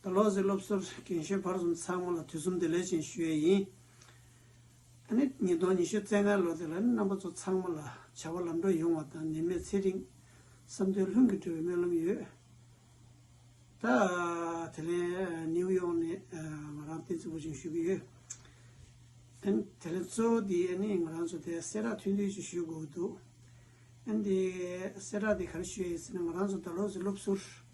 ད་ལོ་ཟིག་སློབ་གསོར་རྒན་གཞོན་བར་གསུམ་ཚང་མ་ལ་དུས་གསུམ་བདེ་ལེགས་ཅན་ཞུ་ཡས་ཡིན། ད་ནི་ཉིས་སྟོང་ཉི་ཤུ་རྩེ་ལྔའི་ལོ་དེ་ལ་ནི་རྣམ་པ་ཚོ་ཚང་མ་ལ་བྱ་བ་ལམ་འགྲོ་ཡོང་བ་དང་ནད་མེད་ཚེ་རིང། བསམ་དོན་ལྷུན་གྱིས་གྲུབ་པའི་སྨོན་ལམ་ཡོད། ད་དེ་ལན་ནིའུ་ཡོག་ནས་ང་རང་བསྟན་རྩིས་པོ་ཅིང་ཞུ་གི་ཡོད། ཨན་དེ་ལན་གཙོ་བོ་དེ་ནི་ང་རང་ཚོ་དེ་གསལ་བསྒྲགས་ཐུན་བསྡུས་ཅིག་ཞུ་དགོས་ཀྱི་འདུག་ཨན་དེ་གསལ་བསྒྲགས་དེ་ག་རེ་ཞུ་ཡས་ཟེར་ན་ང་རང་ཚོ་ད་ལོ་ཟིག་སློབ་གསོར།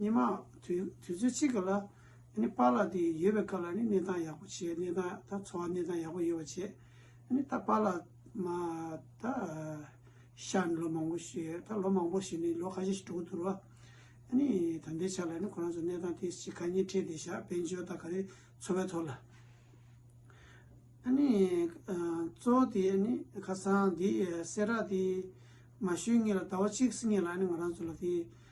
ཉི་མ། དུས་ཚོད་གཅིག་གི་ལ་ནི་པཱ་ལགས་དེ་ཡོད་པའི་སྐབས་ལ་ནི་གནས་སྟངས་ཡག་པོ་བྱས་གནས་སྟངས་ད་འཚོ་བ་གནས་སྟངས་ཡག་པོ་ཡོད་པ་བྱས་ནི་ད་པཱ་ལགས་མ་ད་ཤར་ནས་ལོ་མང་པོ་ཞིག་ཡོད་ད་ལོ་མང་པོ་ཞིག་ནི་ལོ་ཁ་ཤས་ཤིག་འགྲོ་གི་འདུག་རོ། ནི་ད་ལྟའི་ཆ་ལ་ནི་ཁོ་རང་ཚོ་གནས་སྟངས་དེ་ཅི་ག་ཉིས་ཁྲི་དེ་ཤག་བོད་འཇོ་ད་ག་རེ་འཚོ་བའི་ཐོག་ལ། ནི་གཙོ་བོ་དེ་ནི་ཁ་སང་དེ་སེ་ར་དེ་མ་ཞུས་ངེས་ལ་ད་བ་གཅིག་སེ་ངེས་ལ་ནི་ང་རང་ཚོ་ལ་དེ།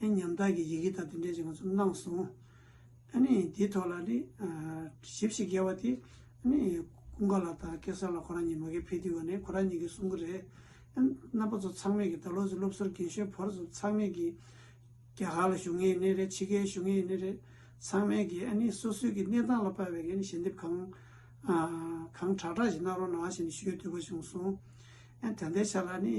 ཨེ་ཉམ་ཐག་གི་ཡི་གེ་དག་འདི་འདྲས་ཀྱི་ང་ཚོ་གནང་སོང། ཨ་ནི་དེའི་ཐོག་ལ་ནི་ཞིབ་ཞིག་བརྒལ་བ་དེ་ཨ་ནི་ཀུན་དགའ་ལགས་དང་སྐལ་བཟང་ལགས་ཁོ་རང་གཉིས་མ་གལ་ཕེབས་དུས་བ་ནས་ཁོ་རང་གཉིས་ཀྱིས་གསུང་གི་རེད། ཨ་ནི་རྣམ་པ་ཚོ་ཚང་མས་ཀྱི་ད་ལོ་ཚོའི་སློབ་གསོར་རྒན་གཞོན་བར་གསུམ་ཚང་མས་ཀྱི་རྒྱ་གར་ལ་ཞུགས་ངེས་ཡིན་ནི་རེད་ཕྱི་རྒྱལ་ཞུགས་ངེས་ཡིན་ནི་རེད། ཚང་མས་ཀྱི་ཨ་ནི་སོ་སོའི་ཀྱི་གནས་སྟངས་ལ་དཔལ་བའི་ཀྱི་ནི་ཞལ་འདེབས་གང་གང་དྲག་དྲག་ཞིག་གནང་རོགས་གནང་ཞེས་ནི་ཞུ་ཡོད་འདོད་པ་བྱུང་སོང། ཨ་ད་ལྟའི་ཆ་ལ་ནི།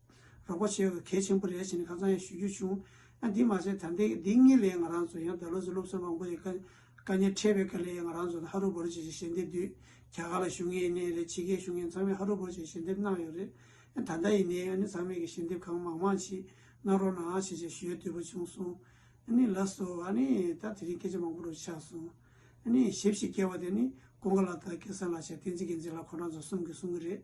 རོགས་པ་བྱེད་དགོས་གལ་ཆེན་པོ་རེད་ཟེར་ནས་ཁ་ཚང་ཡང་ཞུ་རྒྱུ་བྱུང། ཡང་དེ་མ་ཟད་ད་ལྟའི་འདི་གཉིས་ལས་ང་རང་ཚོ་ཡང་བདག་ལུགས་སུ་སློབ་གསོ་མང་པོ་ཞིག་བཀའ་ཉན་འཕྲད་པའི་སྐབས་ལས་ང་རང་ཚོ་ད་ཧ་རུ་བོར་བྱེད་ཀྱི་ཞལ་འདེབས་དུས་རྒྱ་གར་ལ་ཞུ་ངེས་ཡིན་ནའི་རེད་ཕྱི་རྒྱལ་ཞུ་མཁན་ཚང་མས་ཧ་རུ་བོར་བྱེད་ཀྱི་ཞལ་འདེབས་གནང་ཡོད་རེད། ཡང་ད་ལྟ་ཡིན་ནའི་ཨ་ནེ་ཚང་མས་ཀྱི་ཞལ་འདེབས་གང་མང་མང་ཞིག་གནང་རོགས་གནང་ཞེས་ཆེད་ཞུ་ཡ་བསྡུས་པ་བྱུང་སོང། ཨ་ནེ་ལགས་སོ་ཨ་ནེ་ད་དེ་རིང་སྐད་ཆ་མང་པོ་རུ་ཆགས་སོང། ཨ་ནེ་ཞེབ་ཞིག་སྐྱེ་བ་དེ་ནི་ཀོང་ཀ་ལ་དྭགས་ཀེ་སར་ལ་ཞབས་བརྟན་ཚེ་རྒྱལ་མཚན་ལགས་ཁོང་རང་ཚོ་གསུམ་གྱིས་གསུང་གི་རེད།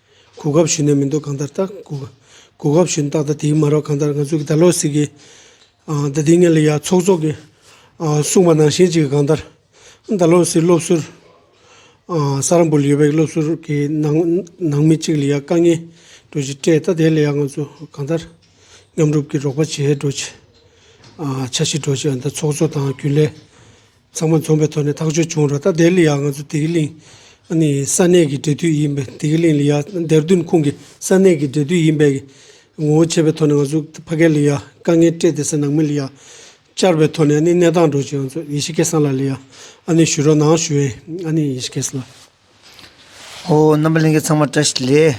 གོ་སྐབས་ཞུས་ནས་མི་འདུག་གང་ལྟར་ལྟ། གོ་སྐབས་ཞུས་ནས་ཏག་ཏག་དེའི་མ་རོག་གང་ལྟར་ང་ཚོ་གི་ད་ལོ་ཟིག་གི། ད་དེའི་ངལ་ལ་ཡ་ཚོགས་ཚོགས་ཀྱི། གསུངས་པ་ནང་བཞིན་ཅིག་གང་ལྟར། ད་ལོ་ཟིག་སློབ་ཟུར། ས་རཱ་འབུར་ལ་ཡོད་པའི་སློབ་ཟུར་གྱི་ནང་ནང་མི་གཅིག་ལ་ཡ་དཀའ་ངལ་འགྲོ་ཅིག་སྤྲད་ད་དེ་ལ་ཡ་ང་ཚོ་གང་ལྟར། མཉམ་རུབ་ཀྱི་རོགས་པ་བྱས་འགྲོ་ཅིག། བྱ་ཞིག་འགྲོ་ཅིག་ཨ་མདའ་ཚོགས་གཙོ་དང་རྒྱུན་ལས། ཚང་མ་འཛོམས་པའི་ཐོག་ནས་ཐག་གཅོད་བྱུང་ར་ད་དེ་ལ་ཡང་ང་ཚོ་དེ་གི་ལིང་ནི་ས་གནས་ཀྱི་འབྲེལ་མཐུད་ཡིན་པས་དེ་གི་ལིང་ལི་ཡ་འདེར་བདུན་ཁུང་གི་ས་གནས་ཀྱི་འབྲེལ་མཐུད་ཡིན་པས་ཀྱི་ངོ་བོ་ཆད་པའི་ཐོག་ནས་ང་ཚོ་ཕ་སྐད་ལི་ཡ་དཀའ་ངལ་སྤྲད་དེ་སེ་ནང་མི་ལི་ཡ་བཅར་བའི་ཐོག་ནས་ནི་གནས་སྟངས་འགྲོ་ཅི་ཡང་ཚོ་ཡེ་ཤི་ཀེ་སང་ལ་ལི་ཡ་ནི་ཞུ་རོགས་གནང་ཞུ་ཨེ་ནི་ཡེ་ཤི་ཀེ་སི་ལ། ཨོ། རྣམ་པ་ལྷན་སྐྱེས་ཚང་མ་བཀྲ་ཤིས་ལེ།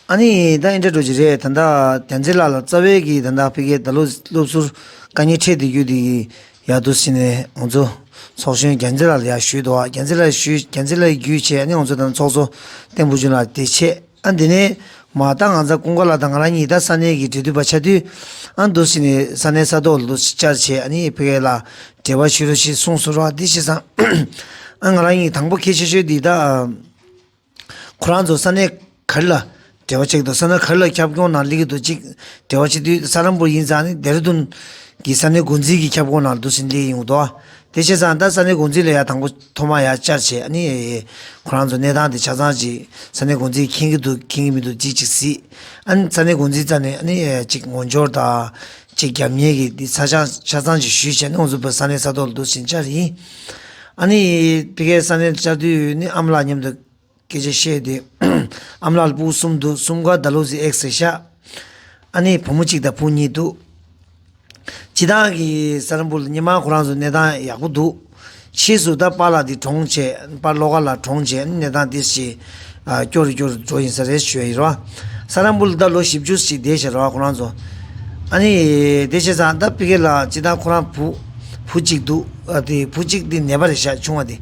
ཨ་ནི་ད་ཨིན་དྲ་འགྲོ་རྒྱུ་རེད་ད་ལྟ་རྒྱ་མཚེས་ལགས་ལ་རྩ་བའི་གི་ད་ལྟ་ཕི་གའི་ད་ལོ་སློབ་ཟུར་བཀའ་ཉན་འཕྲད་བསྡད་རྒྱུ་དེ་གི་ཡག་འདུག་ཟེར་ནས་ང་ཚོ་ཚོགས་གཞོན་རྒྱ་མཚེས་ལགས་ལ་ཡག་ཞུས་འདུག་ཨ་རྒྱ་མཚེས་ལགས་ཞུས་རྒྱ་མཚེས་ལགས་ཡི་རྒྱུས་ཆེད་ཨ་ནི་ང་ཚོ་དང་ཚོགས་གཙོ་བསྟན་བུ་ཆུང་ལགས་དེ་ཆེད་ཨ་འདི་ནས། མ་ལྟ་ང་ཚ་ཀུན་དགའ་ལགས་དང་ང་རང་གཉིས་ད་ས་གནས་ཀྱི་འབྲེལ་མཐུད་པ་ཆགས་དུས། ཨ་འདུ་སི་ནས་ས་གནས་ས་ཐོག་ལོ་བཅར་བྱས་ཨ་ནི་ཕི་ཀའི་ལ་འབྲེལ་བ་ཞུས་རོགས་ཞེས་གསུངས་སོ་རོགས་ཨ་འདི་ཤི་སང། ཨ་ང་རང་གཉིས་དང་པོ་ཁྱེད་ཤོད་ཤོད་འདི་ད། ཁོ་རང་ཚོ་ས་གནས་ག་རི་ལ་འབྲེལ་བ་ཆགས་འདུག་ས་གནས་ག་རི་ལ་ཁྱབ་ཁོངས་ནང་ལིག་འདུག་ཅིག་འབྲེལ་བ་ཆེ་དུས་ས་རམ་པུར་ཡིན་ཙང་ནི་རྡེ་རི་དུན། གི་ས་གནས་འགོ་འཛིན་གྱི་ཁྱབ་ཁོངས་ནང་ལ་འདུ་སི་ནི་ལིག་ཡིན་འདུག་ཨ་དེ་ཤི་སང་ད་ས་གནས་འགོ་འཛིན་ལ་ཡ་དང་པོ། ཐོག་མར་ཡར་བསྐྱར་བྱས་ཨ་ནི། ཁོ་རང་ཚོ་གནས་སྟངས་དེ་ཆ་ཚང་གཅིག་ས་གནས་འགོ་འཛིན་གྱིས་མཁྱེན་གྱི་འདུག་མཁྱེན་གྱི་མི་འདུག་ཅིག་ཅིག་སྲིད། ཨ་ནི་ས་གནས་འགོ་འཛིན་རྩ་ནས་ཨ་ནི། ཅིག་ངོ་འབྱོར་དང། ཅིག་རྒྱབ་གཉེར་གྱིས་འདི་ཚ་ཆང་ཆ་ཚང་ཅིག་ཞུས་བྱས་ནས་ཨུ་ཚུགས་པོས་ས་གནས་ས་ཐོག་ལ་འདུག་ཕྱིན་བཅར་ཡིན། ཨ་ནི། དེ་གའི་ས་གནས་བཅར་དུས་ཨ་ནི་ཨམ་ལགས་མཉམ་དུ་སྐད་ཆ་བཤད་དུས་ཨམ་ལགས་སྤུ་གསུམ་འདུག་གསུམ་ཀ་ད་ལོ་ཟི་ཨེག་སེ་ཤ་ཨ་ནེའི་བུ་མོ་གཅིག་དང་བུ་གཉིས་འདུག་སྤྱི་བཏང་གི་ས་རིན་པོ་ལ་སྙེ་མ་ཁོ་རང་ཚོ་གནས་སྟངས་ཡག་པོ་འདུག་ཕྱིས་སུ་ད་པ་ལ་དེ་གྲོངས་བྱས་པ་བློ་དགའ་ལ་གྲོངས་བྱས་གནས་སྟངས་དེ་ཞེ་སྐྱོ་རུ་སྐྱོ་རུ་འགྲོ་ཡིན་ས་རེད་ཞོའི་ར་ས་རམ་པོ་ལ་ད་ལོ་བཞི་བཅུ་ཞིག་འདས་ཞེ་ར་ཁོ་རང་ཚོ་ཨ་ནེ་དེ་བྱས་ཙང་ད་པི་ཀེ་ལ་སྤྱི་བཏང་ཁོ་རང་བུ་བུ་གཅིག་འདུག་དེ་བུ་གཅིག་དེ་ནད་པ་རེད་ཤ་ཆུང་བ་དེ།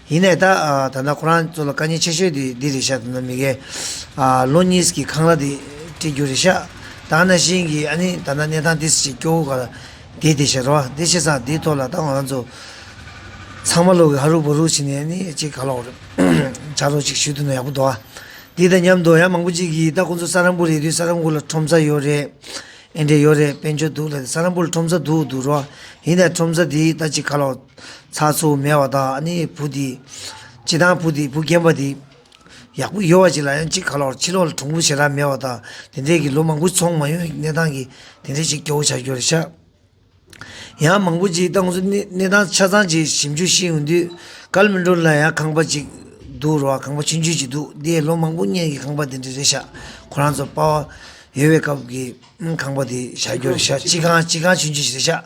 ཡིན་ནས་ད་ད་ལྟ་ཁོ་རང་ཚོ་ལ་དཀའ་ཉེན་ཆེ་ཤོས་དེ་འདི་རེད་ཤག་དེ་ན་མི་གེ། ལོ་གཉིས་ཀྱི་ཁང་གླ་དེ་སྤྲད་རྒྱུ་རེད་ཤག་ད་ན་བཞིན་གྱི་ཨ་ནི་ད་ན་གནས་ཐང་དེ་ཞིག་སྐྱོ་བོ་ག་ལ་དེ་དེ་ཤག་ར་བ་དེ་ཤེས་སང་དེའི་ཐོག་ལ་ད་ང་རང་ཚོ་ཚང་མ་ལོག་གི་ཧ་རུག་བོ་རུག་བྱེད་ནས་ཨ་ནི་ཅིག་ག་ལོག་བྱ་རོགས་ཅིག་ཞུས་དུ་ན་ཡག་པོ་འདུག་ཨ་འདི་ད་མཉམ་དུ་ཡ་མང་པོ་ཅིག་གིས་ད་ཁོང་ཚོ་ས་རམ་པོ་རེད་དུས་ས་རམ་གུ་ལ་ཁྲོམ་ས་ཡོད་རེད་ཨེ་འདྲས་ཡོད་རེད་དཔལ་འབྱོར་སྡུག་ལ་ས་རམ་པོ་ལ་ཁྲོམ་ས་སྡུག་འདུག་རོགས་ཡིན་ད་ཁྲོམ་ས་དེའི་ལྟ་ཅི་ཁ་ལོ་ཚ་ཚུགས་མེད་བ་དང་ཨ་ནི་བུ་དེ་སྤྱི་དང་བུ་དེ་བུ་རྒན་པ་དེ་ཡག་པོ་ཡོད་བ་ཅིག་ལ་ཡང་ཅི་ཁ་ལོར་ཕྱི་ལོག་ལ་གྲུང་པོ་བྱེད་ར་མེད་བ་དང་དེ་འདྲས་ཀྱི་ལོ་མང་པོ་ཚོང་མ་ཡོད་གནས་སྟངས་ཀྱི་དེ་འདྲས་ཅིག་སྐྱོ་བོ་བྱ་རྒྱུ་རེད་ཤག། ཡང་མང་པོ་ཅིག་ཏང་ཙུའི་གནས་སྟངས་ཆ་ཚང་ཅིག་ཞིབ་འཇུག་ཤེས་ཡོང་དུས་གར་མི་འགྲོ་ལ་ཡང་ཁང་པ་ཅིག་འདུག་རོགས་ཁང་པ་ཆུང་ཆུང་ཅིག་འདུག་འདི་ལོ་མང་པོ་བརྙན་གྱི་ཁང་པ་དེ་འདྲ་རེད་ཤག་ཁོ་རང་ཚོ་དཔའ་བོ་ཡོད་པའི་སྐབས་ཀྱི་ཁང་པ་དེ་བཞག་རྒྱུ་རེད་ཤག་སྤྱི་ཁང་སྤྱི་ཁང་ཆུང་ཆུང་ཞིག་རེད་ཤག་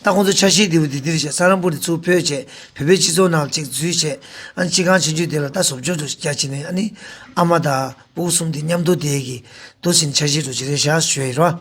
ད་ཁོང་ཚོ་ཆ་ཤས་དེ་བུ་དེ་དེ་རེད་ཤག་ས་རཱ་པུར་དེ་ཚུར་ཕུད་ཆེད་བོད་པའི་སྤྱི་ཚོགས་ནང་ཅིག་འཛུལ་ཆེད་ཨ་ནི་སྤྱི་ཁང་ཆུང་ཆུང་དེ་ལ་ད་ཟོབ་ཆོག་ཆོག་ཅིག་རྒྱག་ཆེད་ནས་ཨ་ནི་ཨ་མ་དང་པུ་གུ་གསུམ་དེ་མཉམ་འདུག་དེའི་གི་འདུག་ཟེར་ནས་ཆ་ཤས་འགྲོ་ཆེད་རེད་ཤག་ཞུ་ཡི་རོ།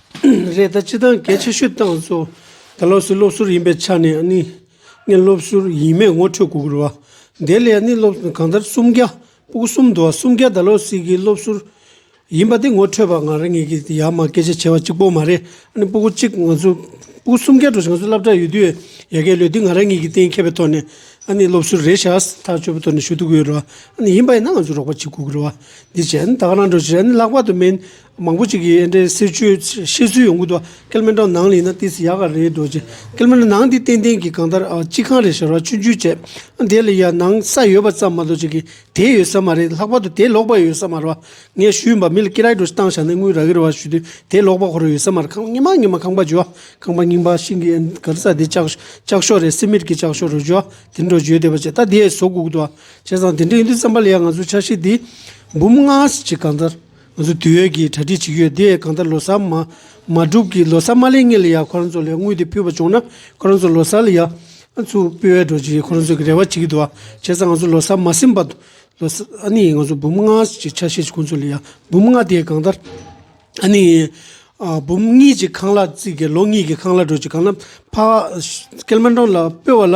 རེད་ད་ཅི་སྟངས་གལ་ཆེ་ཤོས་ཏང་སོ་ད་ལོ་སི་སློབ་ཟུར་ཡིན་པའི་ཆ་ནས་ནི་ངས་སློབ་ཟུར་ཡིན་མེད་ངོ་འཕྲོད་གུ་གུར་བ་དེ་ལས་ནི་སློབ་ཟུར་གང་ལྟར་སུམ་བརྒྱ་སྤུ་གུ་གསུམ་འདུ་བ་སུམ་བརྒྱ་ད་ལོ་སི་གི་སློབ་ཟུར་ཡིན་པ་དེ་ངོ་འཕྲོད་པ་ང་རང་ངེད་ཀྱི་ཡ་མ་སྐད་ཆ་བྱེ་བ་གཅིག་པོ་མ་རེད་ཨ་ནི་སྤུ་གུ་གཅིག་ང་ཚོ་སྤུ་གུ་སུམ་བརྒྱ་འགྲོ་ཞིང་ང་ཚོ་སླབ་གྲྭ་ཡོད་དུས་ཡ་གའི་ལོས་དུས་ང་རང་ངེད་ཀྱི་གཏན་ཁེལ་པའི་ཐོག་ནས་ཨ་ནི་སློབ་ཟུར་རེད་ཤག་ཐག་གཅོད་པའི་ཐོག་ནས་ཞུ་གཏུག་གི་ཡོད་རེད་བ་ཨ་ནི་ཡིན་པ་ཡིན་ན་ང་ཚོ་རོགས་པ་བྱེད་གུ་གུར་བ་འདི་བྱས་ཨ་ནི་ད་ག་རང་འགྲོ་ཞེས་ཨ་ནི་ལྷག་པ་དུ་མིན་མང་པོ་ཅིག་གིས་ཨེ་འདྲའི་གསེར་ཆོས་བཤད་ཚུལ་ཡོང་གི་འདུག་ཀལ་མེ་ཏྲོ་ནང་ལེན་ན་ཏིས་ཡག་ག་རེད་འདུག་ཀལ་མེ་ཏྲོ་ནང་འདི་ཏན་ཏན་གྱི་གང་ལྟར་སྤྱི་ཁང་རེད་ཞར་བ་ཆུ་འཇུས་བྱས་ཨ་དེ་ལ་ཡ་ནང་ས་ཡོད་པ་ཙམ་མ་གཏོགས་ཅིག་གིས་དེ་ཡོད་ས་མ་རེད་ལྷག་པར་དུ་དེ་ལོག་པ་ཡོད་ས་མ་རེད་བ་ངས་ཞུས་ཡིན་པ་མི་ལ་ཀི་ར་ཀྲོ་བཏང་བཞག་ནས་དངུལ་ར་གི་ར་བ་ཞུས་དུས་དེ་ལོག་པ་ཁོ་ར་ཡོད་ས་མ་རེད་ཁང་ཉིན་མ་ཉིན་མ་ཁང་པ་འཇུས་བ་ཁང་པ་རྙིང་པ་ཤིང་གི་ཨེ་འདྲ་ག་རེ་ས་དེ་ལྕགས་ལྕགས་ཤོག་རེད་སེ་མིད་ཀྱི་ལྕགས་ཤོག་རེད་འཇུས་བ་དེ་འདྲ་བརྗོད་བསྡད་པ་བྱས་ད་དེ་བཟོ་དགོས་གི་འདུག་བྱས་ཙང་དེ་འདྲ་ཡིན་དུས་བསམ་པ་ལ་ཡ་ང་ཚོའི་ཆ་ཤས་འདི་འབུམ་ལྔ་ཞིག་གང་ལྟར་ང་ཚོ་དུས་ཡོད་ཀྱིས་གྲ་སྒྲིག་བྱེད་ཀྱི་ཡོད་དེ་གང་ལྟར་ལོ་སར་མ་མ་གྲུབ་ཀྱི་ལོ་སར་མ་ལས་ངེས་ལ་ཡང་ཁོ་རང་ཚོ་ལས་དངུལ་དེ་ཕུལ་བ་བྱུང་ན་ཁོ་རང་ཚོ་ལོ་སར་ལ་ཡང་ཚུར་སྤེལ་བས་འགྲོ་ཅེས་ཁོ་རང་ཚོས་རེ་བ་བྱེད་ཀྱི་འདུག་བྱས་ཙང་ང་ཚོ་ལོ་སར་མ་ཟིན་པར་དུ་ལོ་སར་ཨ་ནི་ང་ཚོ་འབུམ་ལྔ་ཞེས་ཆ་ཤས་ཀྱི་ཁོང་ཚོ་ལ་ཡང་འབུམ་ལྔ་དེ་གང་ལྟར་ཨ་ནི་འབུམ་གཉིས་ཀྱི་ཁང་གླ་བརྩིགས་ཀྱི་ལོ་གཉིས་ཀྱི་ཁང་གླ་འགྲོ་ཅེས་གང་ལ་ཕ་སྐལ་མེ་འབྲོང་ལ་སྤོས་བ་ལ་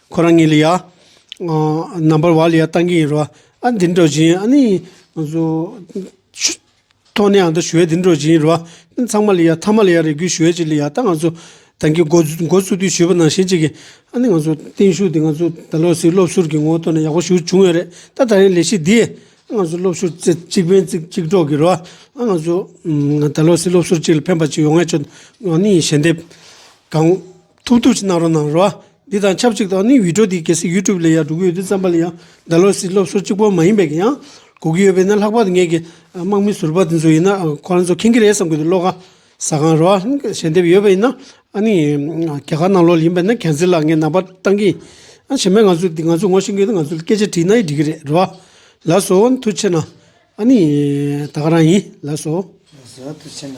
ཁོ་རང་ངེད་ལ་ཡ། རྣམ་པར་བ་ལ་ཡ་བཏང་གི་ཡིན་རོ། ཨ་འདི་འགྲོ་བཞིན་ཨ་ནི། ཐོག་ནས་ཨ་འདི་ཞུ་བས་འདི་འགྲོ་བཞིན་ཡིན་རོ། ཚང་མ་ལ་ཡ་ཐ་མ་ལ་ཡ་རེ་སྒུག་ཞུ་བས་ཅི་ལ་ཡ་ད་ང་ཚོ། ད་གི་འགོ་བཙུགས་དུས་ཞུས་པ་ནང་བཞིན་ཅིག་གི། ཨ་ནི་ང་ཚོ་བརྟན་བཞུགས་འདི་ང་ཚོ་ད་ལོ་སྲིད་སློབ་ཟུར་གྱི་ངོ་བསྟོད་ནས་ཡག་པོ་ཞུ་བྱུང་ཡོད་རེད་ད་ད་རིང་ལས་གཞི་འདིས། ཨ་ང་ཚོ་སློབ་ཞུ་གཅིག་ཕན་ཚིག་གཅིག་གྲོགས་གི་རོ། ཨ་ང་ཚོ། ད་ལོ་སྲིད་སློབ་ཟུར་གཅིག་ལ་ཕན་པ་ཅིག་ཡོང་ངེས་ཆོག་ཨ་ནི་ཞལ་འདེབས། གང། ཐུགས་སྟོབས་ཀྱིས་གནང་རོགས་གནང་རོགས། འདི་དང་ཆབས་ཅིག་ཏུ་ནི་བྷི་ཏྲོ་དེའི་གལ་སྲིད YouTube ལས་ཡག་འགྲོ་གི་ཡོད་དུས་བརྩམས་པ་ལ་ཡང་བདག་ལོ་སིའི་སློབ་གསོ་གཅིག་པོ་མ་ཡིན་པས་ཀྱང་ཡང་གོ་གི་ཡོད་པས་ན་ལྷག་པར་དུ་ངེད་ཀྱི་དམག་མི་ཟུར་པ་དེ་ཚོ་ཡིན་ན་ཁོ་རང་ཚོ་མཁྱེན་གྱི་རེད་བསམ་གྱི་འདུག་བློ་ཁ་ཟ་གང་རོགས། ཞལ་འདེབས་ཡོད་པ་ཡིན་ན་ཨ་ནི་རྒྱ་གར་ནང་ལོགས་ཡིན་པས་ན་གལ་སྲིད་ལ་ངས་ནང་པར་བཏང་གི་ཡིན། ཞེ་མེད་ང་ཚོས་ང་ཚོས་ངོ་ཤེས་གི་ཡོད་ན་ང་ཚོས་སྐད་ཆ་དྲིས་ན་ཡིས་འགྲིག་གི་རེད་རོགས། ལགས་སོ། མཐུ་ཆེ་ན། ཨ་ནི་ད་ག་རང་ཡིན། ལགས་སོ། ལགས་སོ། མཐུ་ཆེ་ན།